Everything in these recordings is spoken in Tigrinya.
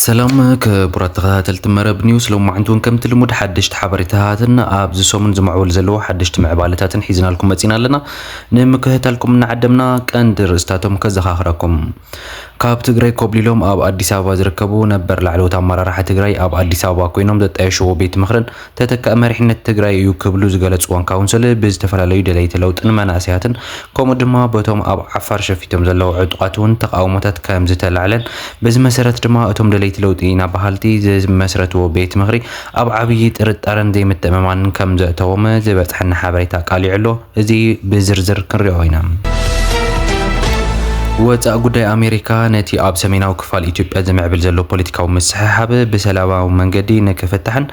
ሰላም ክቡራት ተኸታተልቲ መረብ ኒውስ ሎማዕንቲ እውን ከምቲ ልሙድ ሓደሽቲ ሓበሬታታትን ኣብዚ ሰሙን ዝምዕበሉ ዘለዎ ሓደሽቲ ምዕባለታትን ሒዝናልኩም መፂና ኣለና ንምክህታልኩም እናዓደምና ቀንዲ ርእስታቶም ከዘኻኽረኩም ካብ ትግራይ ኮብሊሎም ኣብ ኣዲስ ኣበባ ዝርከቡ ነበር ላዕለዎት ኣመራርሓ ትግራይ ኣብ ኣዲስ ኣበባ ኮይኖም ዘጣየሽዎ ቤት ምኽርን ተተካኢ መሪሕነት ትግራይ እዩ ክብሉ ዝገለፅዎን ካውንስል ብዝተፈላለዩ ደለይቲ ለውጥን መናእሰያትን ከምኡ ድማ በቶም ኣብ ዓፋር ሸፊቶም ዘለዉ ዕጡቓት እውን ተቃውሞታት ከምዝተላዕለን በዚ መሰረት ድማ እቶም ደለይቲ ለውጢ ኢና በሃልቲ ዝመስረትዎ ቤት ምኽሪ ኣብ ዓብዪ ጥርጣረን ዘይምትእምማንን ከም ዘእተዎም ዝበፅሐና ሓበሬታ ኣቃሊዑ ኣሎ። እዚ ብዝርዝር ክንሪኦ ኢና። ወፃኢ ጉዳይ ኣሜሪካ ነቲ ኣብ ሰሜናዊ ክፋል ኢትዮጵያ ዝምዕብል ዘሎ ፖለቲካዊ ምስሕሓብ ብሰላማዊ መንገዲ ንክፍታሕን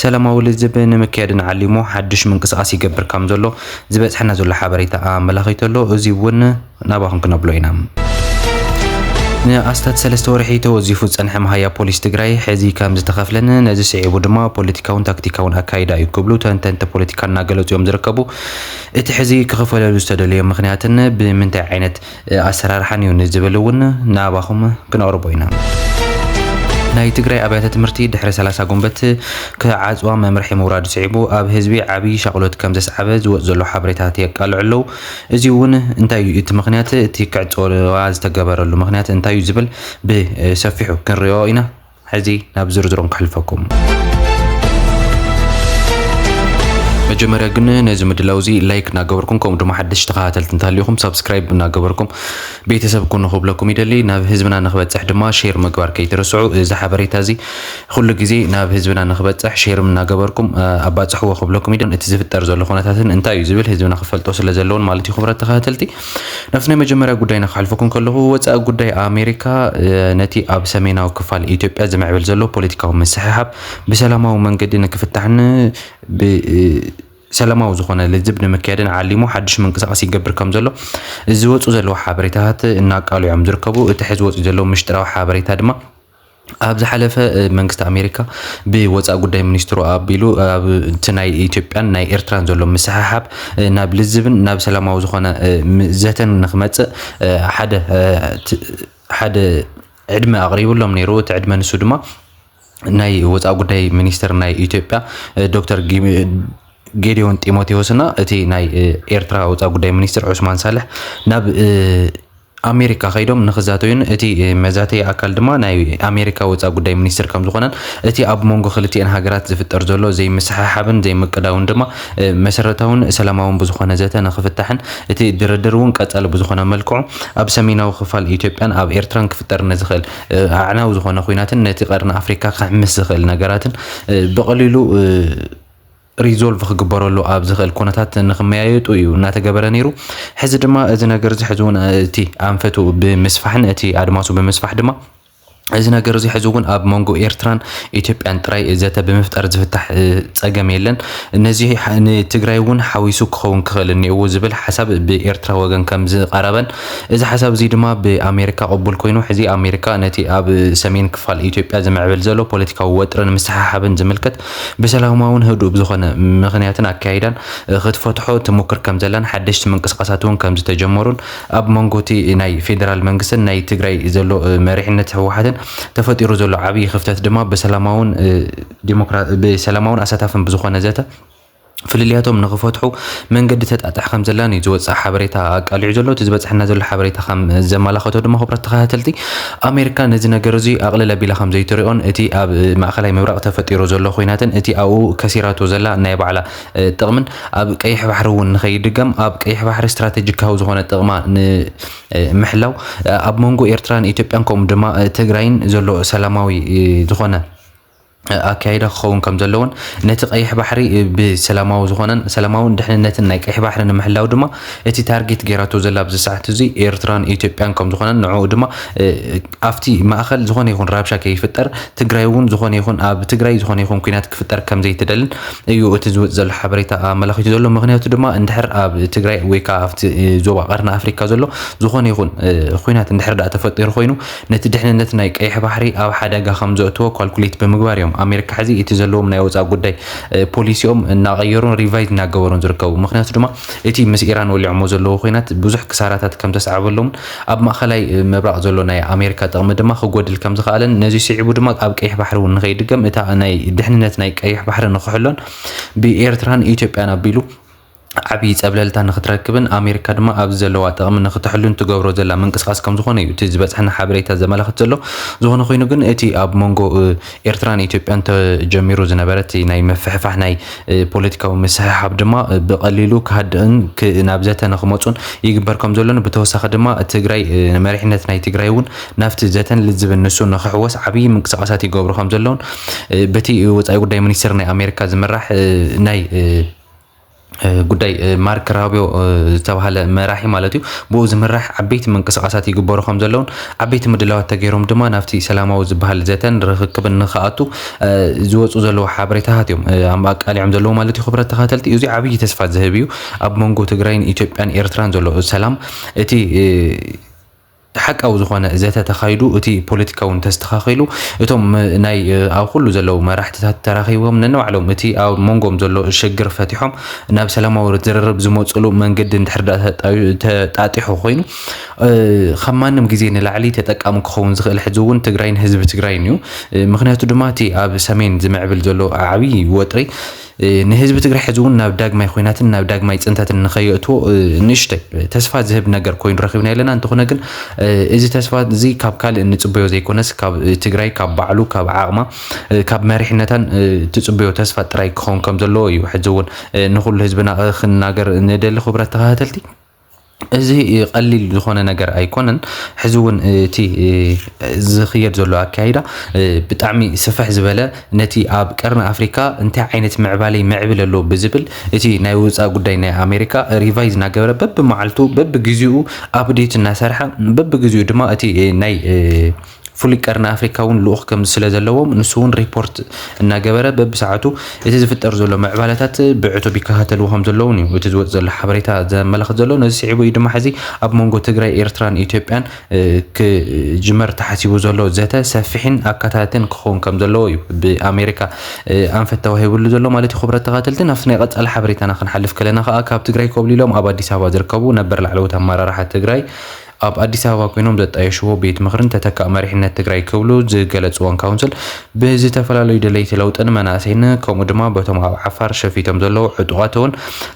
ሰላማዊ ልዝብ ንምክያድን ዓሊሙ ሓዱሽ ምንቅስቓስ ይገብር ከም ዘሎ ዝበፅሐና ዘሎ ሓበሬታ ኣመላኺቱ ኣሎ። እዚ እውን ናባኹም ክነብሎ ኢና። ንኣስታት ሰለስተ ወርሒ ተወዚፉ ዝጸንሐ መሃያ ፖሊስ ትግራይ ሕዚ ከም ዝተኸፍለን ነዚ ስዒቡ ድማ ፖለቲካውን ታክቲካውን ኣካይዳ እዩ ክብሉ ተንተንቲ ፖለቲካ እናገለፁ እዮም ዝርከቡ። እቲ ሕዚ ክኽፈለሉ ዝተደለዮ ምኽንያትን ብምንታይ ዓይነት ኣሰራርሓን እዩ ንዝብል እውን ናባኹም ክነቕርቦ ኢና። ናይ ትግራይ ኣብያተ ትምህርቲ ድሕሪ ሰላሳ ጉንበት ክዓፅዋ መምርሒ ምውራዱ ስዒቡ ኣብ ህዝቢ ዓብዪ ሻቕሎት ከም ዘስዓበ ዝወፅ ዘሎ ሓበሬታት የቃልዑ ኣለዉ። እዚ'ውን እንታይ እዩ እቲ ምኽንያት፣ እቲ ክዕጾዋ ዝተገበረሉ ምኽንያት እንታይ እዩ ዝብል ብሰፊሑ ክንሪኦ ኢና። ሕዚ ናብ ዝርዝሮም ከሕልፈኩም። መጀመርያ ግን ነዚ ምድላው እዚ ላይክ እናገበርኩም ከምኡ ድማ ሓደሽቲ ተኸታተልቲ እንተሃልዩኹም ሳብስክራይብ እናገበርኩም ቤተሰብ ኩኑ ክብለኩም ይደሊ። ናብ ህዝብና ንክበጽሕ ድማ ሼር ምግባር ከይትርስዑ። እዚ ሓበሬታ እዚ ኹሉ ግዜ ናብ ህዝብና ንኽበፅሕ ሼርም እናገበርኩም ኣባፅሕዎ ክብለኩም ይደሊ። እቲ ዝፍጠር ዘሎ ኹነታትን እንታይ እዩ ዝብል ህዝብና ክፈልጦ ስለ ዘለዎን ማለት እዩ። ኹብራት ተኸታተልቲ ናብቲ ናይ መጀመርያ ጉዳይና ክሓልፈኩም ከለኹ ወፃኢ ጉዳይ ኣሜሪካ ነቲ ኣብ ሰሜናዊ ክፋል ኢትዮጵያ ዝምዕብል ዘሎ ፖለቲካዊ ምስሕሓብ ብሰላማዊ መንገዲ ንክፍታሕን ብ ሰላማዊ ዝኾነ ልዝብ ንምክያድን ዓሊሙ ሓድሽ ምንቅስቃስ ይገብር ከም ዘሎ ዝወፁ ዘለዉ ሓበሬታታት እናቃልዑ እዮም ዝርከቡ። እቲ ሕዚ ወፂኡ ዘለዉ ምሽጥራዊ ሓበሬታ ድማ ኣብ ዝሓለፈ መንግስቲ ኣሜሪካ ብወፃኢ ጉዳይ ሚኒስትሩ ኣቢሉ ኣብቲ ናይ ኢትዮጵያን ናይ ኤርትራን ዘሎ ምስሕሓብ ናብ ልዝብን ናብ ሰላማዊ ዝኾነ ዘተን ንክመፅእ ሓደ ሓደ ዕድመ ኣቕሪብሎም ነይሩ እቲ ዕድመ ንሱ ድማ ናይ ወፃኢ ጉዳይ ሚኒስትር ናይ ኢትዮጵያ ዶክተር ጌዲዮን ጢሞቴዎስና እቲ ናይ ኤርትራ ወፃኢ ጉዳይ ሚኒስትር ዑስማን ሳልሕ ናብ ኣሜሪካ ከይዶም ንክዛተዩን እቲ መዛተዪ ኣካል ድማ ናይ ኣሜሪካ ወፃኢ ጉዳይ ሚኒስትር ከምዝኾነን እቲ ኣብ ሞንጎ ክልቲኤን ሃገራት ዝፍጠር ዘሎ ዘይምስሕሓብን ዘይምቅዳውን ድማ መሰረታውን ሰላማውን ብዝኾነ ዘተ ንክፍታሕን እቲ ድርድር እውን ቀፃሊ ብዝኾነ መልክዑ ኣብ ሰሜናዊ ክፋል ኢትዮጵያን ኣብ ኤርትራን ክፍጠር ንዝኽእል ኣዕናዊ ዝኾነ ኹናትን ነቲ ቀርኒ ኣፍሪካ ክሕምስ ዝኽእል ነገራትን ብቐሊሉ ሪዞልቭ ክግበረሉ ኣብ ዝኽእል ኩነታት ንክመያየጡ እዩ እናተገበረ ነይሩ። ሕዚ ድማ እዚ ነገር እዚ ሕዚ እውን እቲ ኣንፈቱ ብምስፋሕን እቲ ኣድማሱ ብምስፋሕ ድማ እዚ ነገር እዚ ሕዚ እውን ኣብ መንጎ ኤርትራን ኢትዮጵያን ጥራይ ዘተ ብምፍጣር ዝፍታሕ ጸገም የለን ነዚ ንትግራይ እውን ሓዊሱ ክኸውን ክኽእል እኒኤዎ ዝብል ሓሳብ ብኤርትራ ወገን ከም ዝቐረበን እዚ ሓሳብ እዚ ድማ ብኣሜሪካ ቅቡል ኮይኑ ሕዚ ኣሜሪካ ነቲ ኣብ ሰሜን ክፋል ኢትዮጵያ ዝምዕብል ዘሎ ፖለቲካዊ ወጥርን ምስሓሓብን ዝምልከት ብሰላማውን ህዱእ ብዝኾነ ምኽንያትን ኣካይዳን ክትፈትሖ ትሙክር ከምዘላን ሓደሽቲ ምንቅስቓሳት እውን ከምዝተጀመሩን ኣብ መንጎ እቲ ናይ ፌደራል መንግስትን ናይ ትግራይ ዘሎ መሪሕነት ህወሓትን ተፈጢሩ ዘሎ ዓብዪ ክፍተት ድማ ብሰላማውን ብሰላማውን ኣሳታፍን ብዝኾነ ዘተ ፍልልያቶም ንኽፈትሑ መንገዲ ተጣጥሕ ከም ዘላን እዩ ዝወፅእ ሓበሬታ ኣቃሊዑ ዘሎ እቲ ዝበፅሐና ዘሎ ሓበሬታ ከም ዘመላኸቶ ድማ ክብረት ተኸታተልቲ ኣሜሪካ ነዚ ነገር እዚ ኣቕልል ኣቢላ ከም ዘይትሪኦን እቲ ኣብ ማእኸላይ ምብራቕ ተፈጢሩ ዘሎ ኮይናትን እቲ ኣብኡ ከሲራቶ ዘላ ናይ ባዕላ ጥቕምን ኣብ ቀይሕ ባሕሪ እውን ንኸይድገም ኣብ ቀይሕ ባሕሪ ስትራቴጂካዊ ዝኾነ ጥቕማ ንምሕላው ኣብ መንጎ ኤርትራን ኢትዮጵያን ከምኡ ድማ ትግራይን ዘሎ ሰላማዊ ዝኾነ ኣካይዳ ክኸውን ከም ዘለዎን ነቲ ቀይሕ ባሕሪ ብሰላማዊ ዝኾነን ሰላማውን ድሕንነትን ናይ ቀይሕ ባሕሪ ንምሕላው ድማ እቲ ታርጌት ገይራቶ ዘላ ኣብዚ ሰዓት እዚ ኤርትራን ኢትዮጵያን ከም ዝኾነን ንዕኡ ድማ ኣብቲ ማእኸል ዝኾነ ይኹን ራብሻ ከይፍጠር ትግራይ እውን ዝኾነ ይኹን ኣብ ትግራይ ዝኾነ ይኹን ኩናት ክፍጠር ከም ዘይትደልን እዩ እቲ ዝወፅ ዘሎ ሓበሬታ ኣመላኺቱ ዘሎ ምክንያቱ ድማ እንድሕር ኣብ ትግራይ ወይ ከዓ ኣብቲ ዞባ ቀርኒ ኣፍሪካ ዘሎ ዝኾነ ይኹን ኩናት እንድሕር ዳኣ ተፈጢሩ ኮይኑ ነቲ ድሕንነት ናይ ቀይሕ ባሕሪ ኣብ ሓደጋ ከም ዘእትዎ ኳልኩሌት ብምግባር እዮም ኣሜሪካ ሕዚ እቲ ዘለዎም ናይ ወፃኢ ጉዳይ ፖሊሲኦም እናቐየሩን ሪቫይዝ እናገበሩን ዝርከቡ። ምኽንያቱ ድማ እቲ ምስ ኢራን ወሊዖሞ ዘለዉ ኹናት ብዙሕ ክሳራታት ከም ዘስዓበሎምን ኣብ ማእኸላይ ምብራቕ ዘሎ ናይ ኣሜሪካ ጥቕሚ ድማ ክጎድል ከም ዝኸኣለን ነዚ ስዒቡ ድማ ኣብ ቀይሕ ባሕሪ እውን ንከይድገም እታ ናይ ድሕንነት ናይ ቀይሕ ባሕሪ ንክሕሎን ብኤርትራን ኢትዮጵያን ኣቢሉ ዓብዪ ፀብለልታ ንክትረክብን ኣሜሪካ ድማ ኣብዚ ዘለዋ ጥቕሚ ንክተሕሉን ትገብሮ ዘላ ምንቅስቓስ ከምዝኾነ እዩ እቲ ዝበፅሐና ሓበሬታ ዘመላኽት ዘሎ። ዝኾነ ኾይኑ ግን እቲ ኣብ መንጎ ኤርትራን ኢትዮጵያን ተጀሚሩ ዝነበረ እቲ ናይ ምፍሕፋሕ ናይ ፖለቲካዊ ምስሕሓብ ድማ ብቐሊሉ ክሃድእን ናብ ዘተ ንክመፁን ይግበር ከምዘሎን ብተወሳኺ ድማ ትግራይ መሪሕነት ናይ ትግራይ እውን ናብቲ ዘተን ልዝብን ንሱ ንክሕወስ ዓብዪ ምንቅስቓሳት ይገብሩ ከምዘለውን በቲ ወፃኢ ጉዳይ ሚኒስቴር ናይ ኣሜሪካ ዝምራሕ ናይ ጉዳይ ማርክ ራቢዮ ዝተባሃለ መራሒ ማለት እዩ ብኡ ዝምራሕ ዓበይቲ ምንቅስቓሳት ይግበሩ ከም ዘለውን ዓበይቲ ምድላዋት ተገይሮም ድማ ናብቲ ሰላማዊ ዝበሃል ዘተን ርኽክብን ንክኣቱ ዝወፁ ዘለዎ ሓበሬታታት እዮም ኣቃሊዖም ዘለዎ ማለት እዩ ክብረት ተኸተልቲ እዚ ዓብዪ ተስፋ ዝህብ እዩ ኣብ መንጎ ትግራይን ኢትዮጵያን ኤርትራን ዘሎ ሰላም እቲ ሓቃዊ ዝኾነ ዘተ ተኻይዱ እቲ ፖለቲካ እውን ተስተኻኺሉ እቶም ናይ ኣብ ኩሉ ዘለዉ መራሕትታት ተራኺቦም ነንባዕሎም እቲ ኣብ መንጎም ዘሎ ሽግር ፈቲሖም ናብ ሰላማዊ ዝርርብ ዝመፅሉ መንገዲ እንድሕር ዳኣ ተጣዩ- ተጣጢሑ ኮይኑ እ፣ ካብ ማንም ግዜ ንላዕሊ ተጠቃሚ ክኸውን ዝኽእል ሕዚ እውን ትግራይን ህዝቢ ትግራይን እዩ። እ፣ ምኽንያቱ ድማ እቲ ኣብ ሰሜን ዝምዕብል ዘሎ ዓብዪ ወጥሪ ንህዝቢ ትግራይ ሕዚ እውን ናብ ዳግማይ ኹናትን ናብ ዳግማይ ፅንተትን ንኸየእትዎ ንእሽተይ ተስፋ ዝህብ ነገር ኮይኑ ረኺብና ኣለና እንተኾነ ግን እዚ ተስፋ እዚ ካብ ካልእ እንፅበዮ ዘይኮነስ ካብ ትግራይ ካብ ባዕሉ ካብ ዓቕማ ካብ መሪሕነታን ትፅበዮ ተስፋ ጥራይ ክኸውን ከም ዘለዎ እዩ ሕዚ እውን ንኹሉ ህዝብና ክናገር ንደሊ ክብረት ተኸታተልቲ እዚ ቀሊል ዝኾነ ነገር ኣይኮነን። ሕዚ እውን እቲ ዝኽየድ ዘሎ ኣካይዳ ብጣዕሚ ስፍሕ ዝበለ ነቲ ኣብ ቀርኒ ኣፍሪካ እንታይ ዓይነት ምዕባለ ይምዕብል ኣሎ ብዝብል እቲ ናይ ወፃኢ ጉዳይ ናይ ኣሜሪካ ሪቫይዝ እናገበረ በቢመዓልቱ በቢግዜኡ ኣብዴት እናሰርሐ በቢግዜኡ ድማ እቲ ናይ ፍሉይ ቀርኒ ኣፍሪካ እውን ልኡኽ ከም ስለዘለዎም ንሱ እውን ሪፖርት እናገበረ በብሰዓቱ እቲ ዝፍጠር ዘሎ ምዕባለታት ብዕቱብ ይከታተልዎ ከም ዘለውን እዩ እቲ ዝወፅ ዘሎ ሓበሬታ ዘመላኽት ዘሎ ነዚ ስዒቡ እዩ ድማ ሕዚ ኣብ መንጎ ትግራይ ኤርትራን ኢትዮጵያን ክጅመር ተሓሲቡ ዘሎ ዘተ ሰፊሕን ኣካታትን ክኸውን ከም ዘለዎ እዩ ብኣሜሪካ ኣንፈት ተዋሂብሉ ዘሎ ማለት እዩ ክብረት ተኸታተልቲ ናብቲ ናይ ቀፃሊ ሓበሬታና ክንሓልፍ ከለና ከዓ ካብ ትግራይ ኮብሊሎም ኣብ ኣዲስ ኣበባ ዝርከቡ ነበር ላዕለዎት ኣመራርሓ ትግራይ ኣብ ኣዲስ ኣበባ ኮይኖም ዘጣየሽዎ ቤት ምኽርን ተተካእ መሪሕነት ትግራይ ክብሉ ዝገለፅዎን ካውንስል ብዝተፈላለዩ ደለይቲ ለውጥን መናእሰይን ከምኡ ድማ በቶም ኣብ ዓፋር ሸፊቶም ዘለዉ ዕጡቓት እውን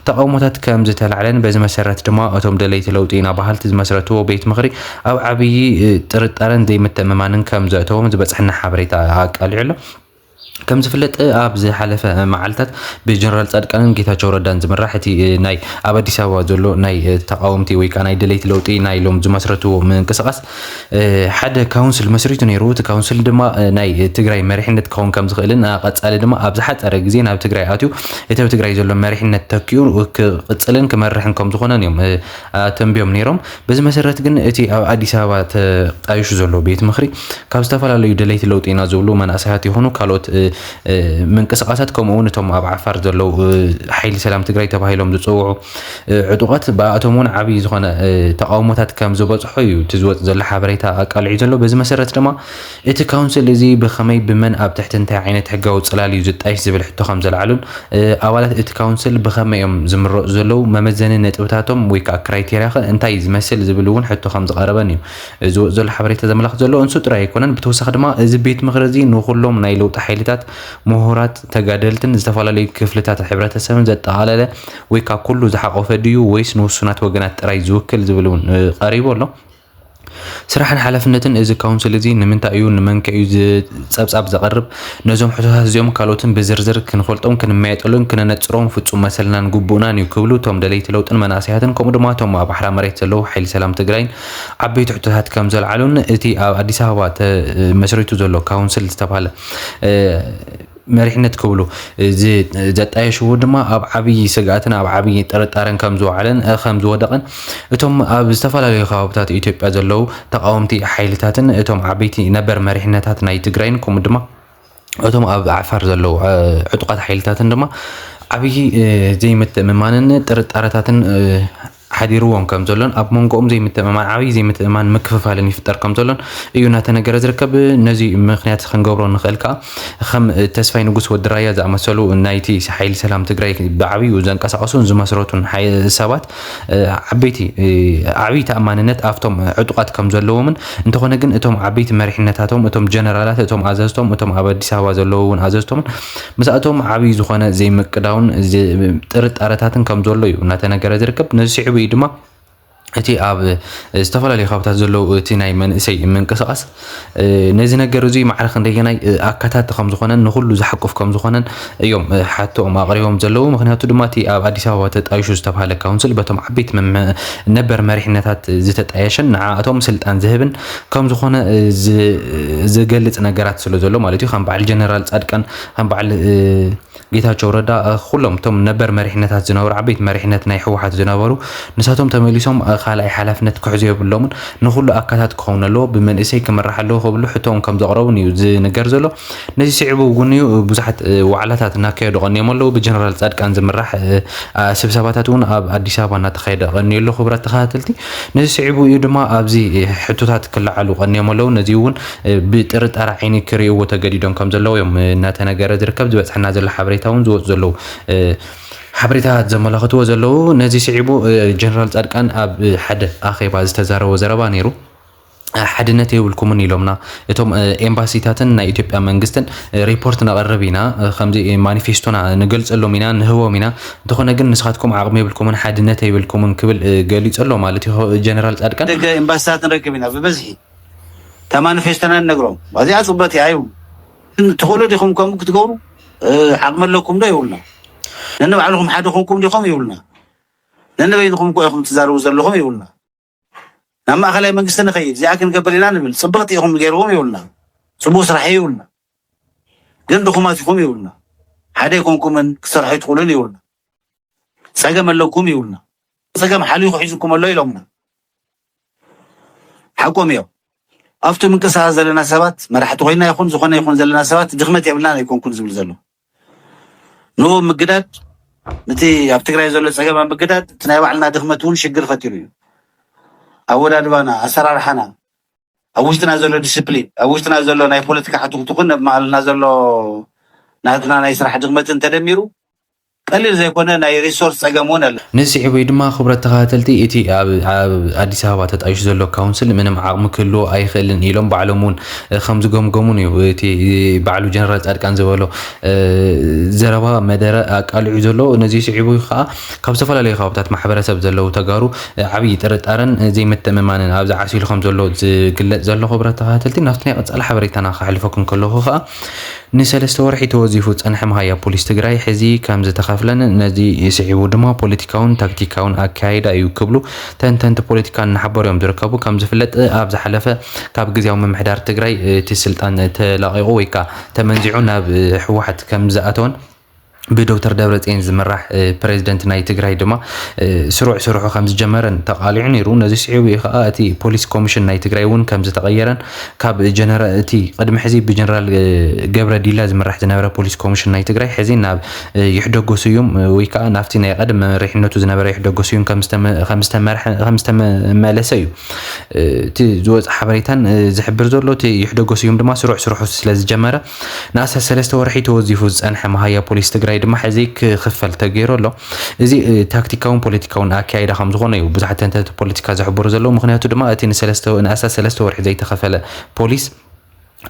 ተቓውሞታት ከም ዝተላዕለን በዚ መሰረት ድማ እቶም ደለይቲ ለውጢ ኢና በሃልቲ ዝመስረትዎ ቤት ምኽሪ ኣብ ዓብዪ ጥርጣረን ዘይምትእምማንን ከም ዘእተዎም ዝበፅሐና ሓበሬታ ኣቃሊዑ ኣሎ። ከም ዝፍለጥ ኣብ ዝሓለፈ መዓልታት ብጀነራል ፃድቃንን ጌታቸው ረዳን ዝምራሕ እቲ ናይ ኣብ ኣዲስ ኣበባ ዘሎ ናይ ተቃወምቲ ወይ ከዓ ናይ ደለይቲ ለውጢ ናይ ኢሎም ዝመስረትዎ ምንቅስቃስ ሓደ ካውንስል መስሪቱ ነይሩ። እቲ ካውንስል ድማ ናይ ትግራይ መሪሕነት ክኸውን ከም ዝኽእልን ቀፃሊ ድማ ኣብ ዝሓፀረ ግዜ ናብ ትግራይ ኣትዩ እቲ ኣብ ትግራይ ዘሎ መሪሕነት ተኪኡ ክቅፅልን ክመርሕን ከም ዝኾነን እዮም ኣተንቢዮም ነይሮም። በዚ መሰረት ግን እቲ ኣብ ኣዲስ ኣበባ ተጣይሹ ዘሎ ቤት ምኽሪ ካብ ዝተፈላለዩ ደለይቲ ለውጢ ኢና ዝብሉ መናእሰያት ይኹኑ ካልኦት ምንቅስቓሳት ከምኡ እውን እቶም ኣብ ዓፋር ዘለው ሓይሊ ሰላም ትግራይ ተባሂሎም ዝፅውዑ ዕጡቓት ብኣቶም እውን ዓብዪ ዝኾነ ተቃውሞታት ከም ዝበፅሖ እዩ እቲ ዝወፅ ዘሎ ሓበሬታ ኣቃልዒ ዘሎ በዚ መሰረት ድማ እቲ ካውንስል እዚ ብኸመይ፣ ብመን፣ ኣብ ትሕቲ እንታይ ዓይነት ሕጋዊ ጽላል እዩ ዝጣየሽ ዝብል ሕቶ ከም ዘልዓሉን ኣባላት እቲ ካውንስል ብኸመይ እዮም ዝምረጹ ዘለዉ፣ መመዘኒ ነጥብታቶም ወይ ከኣ ክራይቴርያኸ እንታይ ዝመስል ዝብል እውን ሕቶ ከም ዝቐረበን እዩ ዝወጽእ ዘሎ ሓበሬታ ዘመላኽት ዘሎ። ንሱ ጥራይ ኣይኮነን ብተወሳኺ ድማ እዚ ቤት ምኽሪ እዚ ንኹሎም ናይ ለውጢ ሓይልታት፣ ምሁራት፣ ተጋደልትን ዝተፈላለዩ ክፍልታት ሕብረተሰብን ዘጠቓለለ ወይ ከኣ ኩሉ ዝሓቖፈ ድዩ ወይስ ንውሱናት ወገናት ጥራይ ዝውክል ዝብል እውን ቀሪቡ ኣሎ። ስራሕን ሓላፍነትን እዚ ካውንስል እዚ ንምንታይ እዩ ንመንከ እዩ ጸብጻብ ዘቕርብ ነዞም ሕቶታት እዚኦም ካልኦትን ብዝርዝር ክንፈልጦም ክንመየጠሉን ክነነጽሮም ፍጹም መሰልናን ግቡእናን እዩ ክብሉ እቶም ደለይቲ ለውጥን መናእሰያትን ከምኡ ድማ እቶም ኣብ ኣሕራ መሬት ዘለዉ ሓይሊ ሰላም ትግራይን ዓበይቲ ሕቶታት ከም ዘልዓሉን እቲ ኣብ ኣዲስ ኣበባ ተመስሪቱ ዘሎ ካውንስል ዝተባሃለ መሪሕነት ክብሉ ዘጣየሽዎ ድማ ኣብ ዓብዪ ስግኣትን ኣብ ዓብዪ ጥርጣረን ከም ዝወዓለን ከም ዝወደቐን እቶም ኣብ ዝተፈላለዩ ከባብታት ኢትዮጵያ ዘለዉ ተቃወምቲ ሓይልታትን እቶም ዓበይቲ ነበር መሪሕነታት ናይ ትግራይን ከምኡ ድማ እቶም ኣብ ዓፋር ዘለዉ ዕጡቃት ሓይልታትን ድማ ዓብዪ ዘይምትእምማንን ጥርጣረታትን ሓዲርዎም ከም ዘሎን ኣብ መንጎኦም ዘይምትእምማን ዓብይ ዘይምትእምማን ምክፍፋልን ይፍጠር ከም ዘሎን እዩ እናተነገረ ዝርከብ። ነዚ ምኽንያት ክንገብሮ እንኽእል ከኣ ከም ተስፋይ ንጉስ ወዲ ራያ ዝኣመሰሉ ናይቲ ሓይሊ ሰላም ትግራይ ብዓብዩ ዘንቀሳቐሱን ዝመስረቱን ሰባት ዓበይቲ ዓብይ ተኣማንነት ኣብቶም ዕጡቓት ከም ዘለዎምን እንተኾነ ግን እቶም ዓበይቲ መሪሕነታቶም እቶም ጀነራላት እቶም ኣዘዝቶም እቶም ኣብ ኣዲስ ኣበባ ዘለዉ እውን ኣዘዝቶምን ምስኣቶም ዓብይ ዝኾነ ዘይምቅዳውን ጥርጣረታትን ከም ዘሎ እዩ እናተነገረ ዝርከብ ነዚ ስዒቡ እዩ ድማ እቲ ኣብ ዝተፈላለዩ ከባብታት ዘለዉ እቲ ናይ መንእሰይ ምንቅስቓስ ነዚ ነገር እዙይ ማዕረ ክንደየናይ ኣካታቲ ከም ዝኾነን ንኩሉ ዝሓቁፍ ከም ዝኾነን እዮም ሓቶኦም ኣቕሪቦም ዘለዉ ምክንያቱ ድማ እቲ ኣብ ኣዲስ ኣበባ ተጣይሹ ዝተባሃለ ካውንስል በቶም ዓበይቲ ነበር መሪሕነታት ዝተጣየሸን ንዓኣቶም ስልጣን ዝህብን ከም ዝኾነ ዝገልጽ ነገራት ስለ ዘሎ ማለት እዩ ከም በዓል ጀነራል ጻድቃን ከም በዓል ጌታቸው ረዳ ኩሎም እቶም ነበር መሪሕነታት ዝነበሩ ዓበይቲ መሪሕነት ናይ ህወሓት ዝነበሩ ንሳቶም ተመሊሶም ካልኣይ ሓላፍነት ክሕዙ የብሎምን ንኩሉ ኣካታት ክኸውን ኣለዎ ብመንእሰይ ክምራሕ ኣለዎ ክብሉ ሕቶኦም ከም ዘቕረቡን እዩ ዝንገር ዘሎ ነዚ ስዒቡ እውን'ዩ ብዙሓት ዋዕላታት እናካየዱ ቀንዮም ኣለዉ። ብጀነራል ጻድቃን ዝምራሕ ስብሰባታት እውን ኣብ ኣዲስ ኣበባ እናተኻየደ ቀንዩ ኣሎ። ክቡራት ተኸታተልቲ፣ ነዚ ስዒቡ እዩ ድማ ኣብዚ ሕቶታት ክለዓሉ ቀንዮም ኣለዉ። ነዚ እውን ብጥርጣረ ዓይኒ ክርእይዎ ተገዲዶም ከም ዘለዉ እዮም እናተነገረ ዝርከብ። ዝበጽሐና ዘሎ ሓበሬታ እውን ዝወጹ ዘለዉ ሓበሬታታት ዘመላኽትዎ ዘለዉ። ነዚ ስዒቡ ጀነራል ጻድቃን ኣብ ሓደ ኣኼባ ዝተዛረቦ ዘረባ ነይሩ። ሓድነት የብልኩምን ኢሎምና እቶም ኤምባሲታትን ናይ ኢትዮጵያ መንግስትን ሪፖርት ነቕርብ ኢና ከምዚ ማኒፌስቶና ንገልጸሎም ኢና ንህቦም ኢና እንተኾነ ግን ንስኻትኩም ዓቕሚ የብልኩምን ሓድነት የብልኩምን ክብል ገሊጹ ኣሎ ማለት እዩ ጀነራል ጻድቃን ደገ ኤምባሲታት ንረክብ ኢና ብበዝሒ እታ ማኒፌስቶና ንነግሮም ኣዚኣ ጽብቕቲ እያ ይብሉ ትኽእሉ ዲኹም ከምኡ ክትገብሩ ዓቕሚ ኣለኩም ዶ ይብሉና ነንባዕልኹም ሓደ ኮንኩም ዲኹም ይብሉና ነንበይንኹም እኮ ኢኹም ትዛረቡ ዘለኹም ይብሉና ናብ ማእኸላይ መንግስቲ ንኸይድ እዚኣ ክንገብር ኢና ንብል ፅብቕቲ ኢኹም ገይርዎም ይብሉና ፅቡቕ ስራሕ እዩ ይብሉና ግን ድኹማት ኢኹም ይብሉና ሓደ ኣይኮንኩምን ክትሰርሑ ኣይትኽእሉን ይብሉና ፀገም ኣለኩም ይብሉና ፀገም ሓሊኹ ሒዙኩም ኣሎ ኢሎምና ሓቆም እዮም ኣብቲ ምንቅስቃስ ዘለና ሰባት መራሕቲ ኮይና ይኹን ዝኾነ ይኹን ዘለና ሰባት ድኽመት የብልናን ኣይኮንኩን ዝብል ዘሎ ንኡ ምግዳድ ንቲ ኣብ ትግራይ ዘሎ ፀገም ኣብ ምግዳድ እቲ ናይ ባዕልና ድኽመት እውን ሽግር ፈጢሩ እዩ። ኣወዳድባና፣ ኣሰራርሓና፣ ኣብ ውሽጥና ዘሎ ዲስፕሊን፣ ኣብ ውሽጥና ዘሎ ናይ ፖለቲካ ሕቱኽቱኽን ኣብ መሃልና ዘሎ ናትና ናይ ስራሕ ድኽመትን ተደሚሩ ቀሊል ዘይኮነ ናይ ሪሶርስ ፀገም እውን ኣሎ። ነዚ ስዒቡ እዩ ድማ ክቡረት ተኸታተልቲ እቲ ኣብ ኣዲስ ኣበባ ተጣይሹ ዘሎ ካውንስል ምንም ዓቕሚ ክህልዎ ኣይኽእልን ኢሎም ባዕሎም እውን ከምዝገምገሙን እዩ እቲ ባዕሉ ጀነራል ፃድቃን ዝበሎ ዘረባ መደረ ኣቃሊዑ ዘሎ ነዚ ስዒቡ ከዓ ካብ ዝተፈላለዩ ከባብታት ማሕበረሰብ ዘለው ተጋሩ ዓብይ ጥርጣረን ዘይምትእምማንን ኣብዚ ዓሲሉ ከምዘሎ ዝግለፅ ዘሎ ክብረት ተኸታተልቲ ናብቲ ናይ ቀፃሊ ሓበሬታና ከሕልፈኩም ከለኹ ከዓ ንሰለስተ ወርሒ ተወዚፉ ዝጸንሐ መሃያ ፖሊስ ትግራይ ሕዚ ከምዝተኸፍለን ነዚ ስዒቡ ድማ ፖለቲካውን ታክቲካውን ኣከያይዳ እዩ ክብሉ ተንተንቲ ፖለቲካ እናሓበሩ እዮም ዝርከቡ። ከምዝፍለጥ ኣብ ዝሓለፈ ካብ ግዝያዊ ምምሕዳር ትግራይ እቲ ስልጣን ተላቒቑ ወይ ከዓ ተመንዚዑ ናብ ህወሓት ከምዝኣተወን ብዶክተር ደብረፅዮን ዝምራሕ ፕሬዚደንት ናይ ትግራይ ድማ ስሩዕ ስርሑ ከም ዝጀመረን ተቃሊዑ ነይሩ ነዚ ስዒቡ እዩ ከዓ እቲ ፖሊስ ኮሚሽን ናይ ትግራይ እውን ከም ዝተቐየረን ካብ ጀነራ እቲ ቅድሚ ሕዚ ብጀነራል ገብረ ዲላ ዝምራሕ ዝነበረ ፖሊስ ኮሚሽን ናይ ትግራይ ሕዚ ናብ ይሕደጎ ስዩም ወይ ከዓ ናብቲ ናይ ቀደም መሪሕነቱ ዝነበረ ይሕደጎ ስዩም ከም ዝተመ- ከም ዝተመርሐ- ከም ዝተመለሰ እዩ እቲ ዝወፀ ሓበሬታን ዝሕብር ዘሎ እቲ ይሕደጎ ስዩም ድማ ስሩዕ ስርሑ ስለ ዝጀመረ ንኣስታት ሰለስተ ወርሒ ተወዚፉ ዝጸንሐ መሃያ ፖሊስ ትግራይ ድማ ሕዚ ክኽፈል ተገይሩ ኣሎ። እዚ ታክቲካውን ፖለቲካውን ኣከያይዳ ከም ዝኾነ እዩ ብዙሓት ተንተንቲ ፖለቲካ ዝሕብሩ ዘለዉ። ምክንያቱ ድማ እቲ ንኣስታት ሰለስተ ወርሒ ዘይተኸፈለ ፖሊስ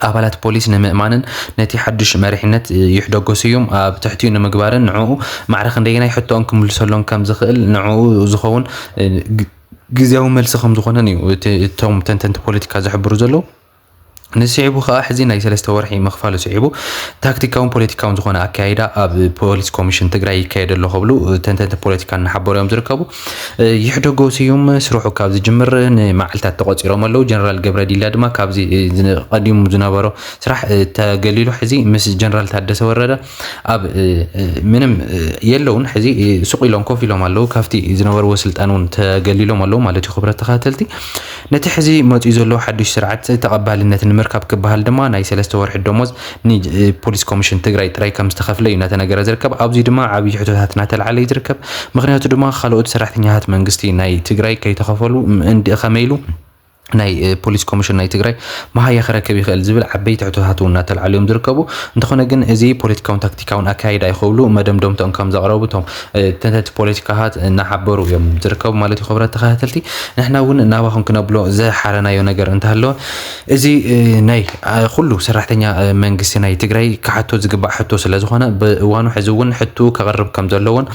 ኣባላት ፖሊስ ንምእማንን ነቲ ሓዱሽ መሪሕነት ይሕደጎ ስዩም ኣብ ትሕቲኡ ንምግባርን ንዕኡ ማዕረ ክንደየናይ ሕቶኦም ክምልሰሎም ከም ዝኽእል ንዕኡ ዝኸውን ግዝያዊ መልሲ ከም ዝኾነን እዩ እቶም ተንተንቲ ፖለቲካ ዝሕብሩ ዘለዉ። ንስዒቡ ከኣ ሕዚ ናይ ሰለስተ ወርሒ ምኽፋሉ ስዒቡ ታክቲካውን ፖለቲካውን ዝኾነ ኣካይዳ ኣብ ፖሊስ ኮሚሽን ትግራይ ይካየድ ኣሎ ክብሉ ተንተንቲ ፖለቲካ እናሓበሩ እዮም ዝርከቡ። ይሕደጎ ስዩም ስርሑ ካብ ዝጅምር ንመዓልታት ተቖፂሮም ኣለዉ። ጀነራል ገብረ ዲላ ድማ ካብዚ ቀዲሙ ዝነበሮ ስራሕ ተገሊሉ ሕዚ ምስ ጀነራል ታደሰ ወረደ ኣብ ምንም የለውን ሕዚ ሱቕ ኢሎም ኮፍ ኢሎም ኣለዉ ካብቲ ዝነበርዎ ስልጣን እውን ተገሊሎም ኣለዉ ማለት እዩ ክብረት ተኸታተልቲ ነቲ ሕዚ መፅኡ ዘሎ ሓዱሽ ስርዓት ተቐባልነት ንምርካብ ክበሃል ድማ ናይ ሰለስተ ወርሒ ደሞዝ ንፖሊስ ኮሚሽን ትግራይ ጥራይ ከም ዝተኸፍለ እዩ እናተነገረ ዝርከብ ኣብዚ ድማ ዓብዪ ሕቶታት እናተልዓለ እዩ ዝርከብ ምክንያቱ ድማ ካልኦት ሰራሕተኛታት መንግስቲ ናይ ትግራይ ከይተኸፈሉ እንዲ ከመይ ኢሉ ናይ ፖሊስ ኮሚሽን ናይ ትግራይ መሃያ ክረክብ ይኽእል ዝብል ዓበይቲ ሕቶታት እውን እናተልዓሉ እዮም ዝርከቡ እንተኾነ ግን እዚ ፖለቲካውን ታክቲካውን ኣካይዳ እዩ ክብሉ መደምደምቶም ከም ዘቕረቡ እቶም ተንተንቲ ፖለቲካታት እናሓበሩ እዮም ዝርከቡ ማለት እዩ ክብረት ተኸታተልቲ ንሕና እውን ናባኹም ክነብሎ ዝሓረናዮ ነገር እንተሃለወ እዚ ናይ ኩሉ ሰራሕተኛ መንግስቲ ናይ ትግራይ ክሓቶ ዝግባእ ሕቶ ስለ ዝኾነ ብእዋኑ ሕዚ እውን ሕቱ ከቕርብ ከም ዘለዎን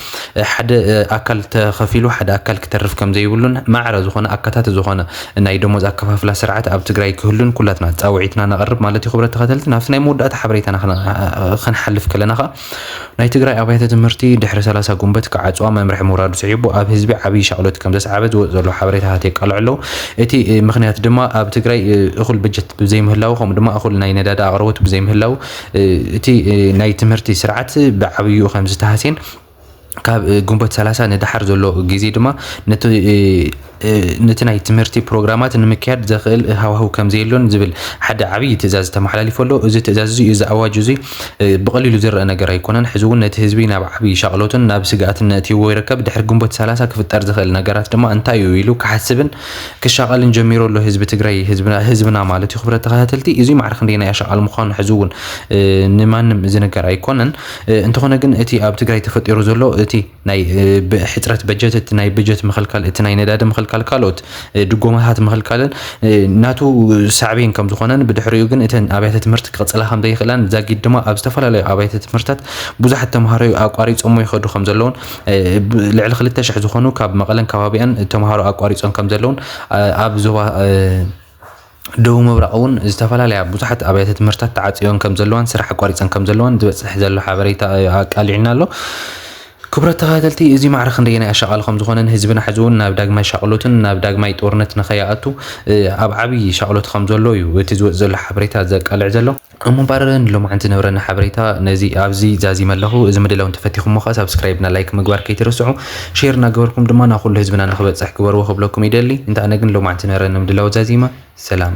ሓደ ኣካል ተኸፊሉ ሓደ ኣካል ክተርፍ ከምዘይብሉን ማዕረ ዝኾነ ኣካታቲ ዝኾነ ናይ ደሞዝ ኣከፋፍላ ስርዓት ኣብ ትግራይ ክህሉን ኩላትና ፃውዒትና ነቐርብ ማለት እዩ። ክብረት ተኸተልቲ ናብቲ ናይ መወዳእታ ሓበሬታና ክንሓልፍ ከለና ከዓ ናይ ትግራይ ኣብያተ ትምህርቲ ድሕሪ ሰላሳ ጉንበት ክዓፅዋ መምርሒ ምውራዱ ስዒቡ ኣብ ህዝቢ ዓብዪ ሻቕሎት ከምዘስዓበ ዝወፅ ዘሎ ሓበሬታታት የቃልዑ ኣለዉ። እቲ ምኽንያት ድማ ኣብ ትግራይ እኹል በጀት ብዘይምህላዉ ከምኡ ድማ እኹል ናይ ነዳዲ ኣቕርቦት ብዘይምህላዉ እቲ ናይ ትምህርቲ ስርዓት ብዓብይኡ ከምዝተሃስየን ካብ ግንቦት 30 ንደሓር ዘሎ ግዜ ድማ ነቲ ናይ ትምህርቲ ፕሮግራማት ንምክያድ ዘኽእል ሃዋህው ከም ዘየሎን ዝብል ሓደ ዓብዪ ትእዛዝ ተመሓላሊፉ ኣሎ። እዚ ትእዛዝ እዚ እዚ ኣዋጅ እዚ ብቐሊሉ ዝረአ ነገር ኣይኮነን። ሕዚ እውን ነቲ ህዝቢ ናብ ዓብዪ ሻቕሎትን ናብ ስግኣትን ነእትይዎ ይርከብ። ድሕሪ ግንቦት 30 ክፍጠር ዝኽእል ነገራት ድማ እንታይ እዩ ኢሉ ክሓስብን ክሻቐልን ጀሚሩ ኣሎ ህዝቢ ትግራይ ህዝብና ማለት እዩ። ክብረት ተኸታተልቲ እዚ ማዕረ ክንደየናይ ኣሻቓሊ ምዃኑ ሕዚ እውን ንማንም ዝንገር ኣይኮነን። እንተኾነ ግን እቲ ኣብ ትግራይ ተፈጢሩ ዘሎ እቲ ናይ ሕፅረት በጀት እቲ ናይ በጀት ምኽልካል እቲ ናይ ነዳዲ ምኽልካል ካልኦት ድጎማታት ምኽልካልን ናቱ ሳዕቤን ከም ዝኾነን ብድሕሪኡ ግን እተን ኣብያተ ትምህርቲ ክቕፅላ ከም ዘይኽእላን ዛጊድ ድማ ኣብ ዝተፈላለዩ ኣብያተ ትምህርትታት ብዙሓት ተምሃሮ ኣቋሪፆሞ ይኸዱ ከም ዘለውን ልዕሊ ክልተ ሽሕ ዝኾኑ ካብ መቐለን ከባቢኣን ተምሃሮ ኣቋሪፆም ከም ዘለውን ኣብ ዞባ ደቡብ ምብራቕ እውን ዝተፈላለያ ብዙሓት ኣብያተ ትምህርታት ተዓፅዮን ከም ዘለዋን ስራሕ ኣቋሪፀን ከም ዘለዋን ዝበፅሕ ዘሎ ሓበሬታ ኣቃሊዕና ኣሎ። ክብረት ተኸታተልቲ እዚ ማዕረ ክንደየናይ ኣሻቓሊ ከም ዝኾነን ህዝብና ሕዚ እውን ናብ ዳግማይ ሻቕሎትን ናብ ዳግማይ ጦርነት ንኸይኣቱ ኣብ ዓብዪ ሻቕሎት ከም ዘሎ እዩ እቲ ዝወፅ ዘሎ ሓበሬታ ዘቃልዕ ዘሎ። እሞ እምበኣር ንሎማዓንቲ ዝነበረና ሓበሬታ ነዚ ኣብዚ ዛዚመ ኣለኹ። እዚ ምድላው እንተፈቲኹሞ ከኣ ሳብስክራይብ እና ላይክ ምግባር ከይትርስዑ። ሼር እናገበርኩም ድማ ናብ ኩሉ ህዝብና ንኽበጽሕ ግበርዎ ክብለኩም ይደሊ። እንተ ኣነ ግን ሎማዓንቲ ዝነበረኒ ምድላው ዛዚመ። ሰላም።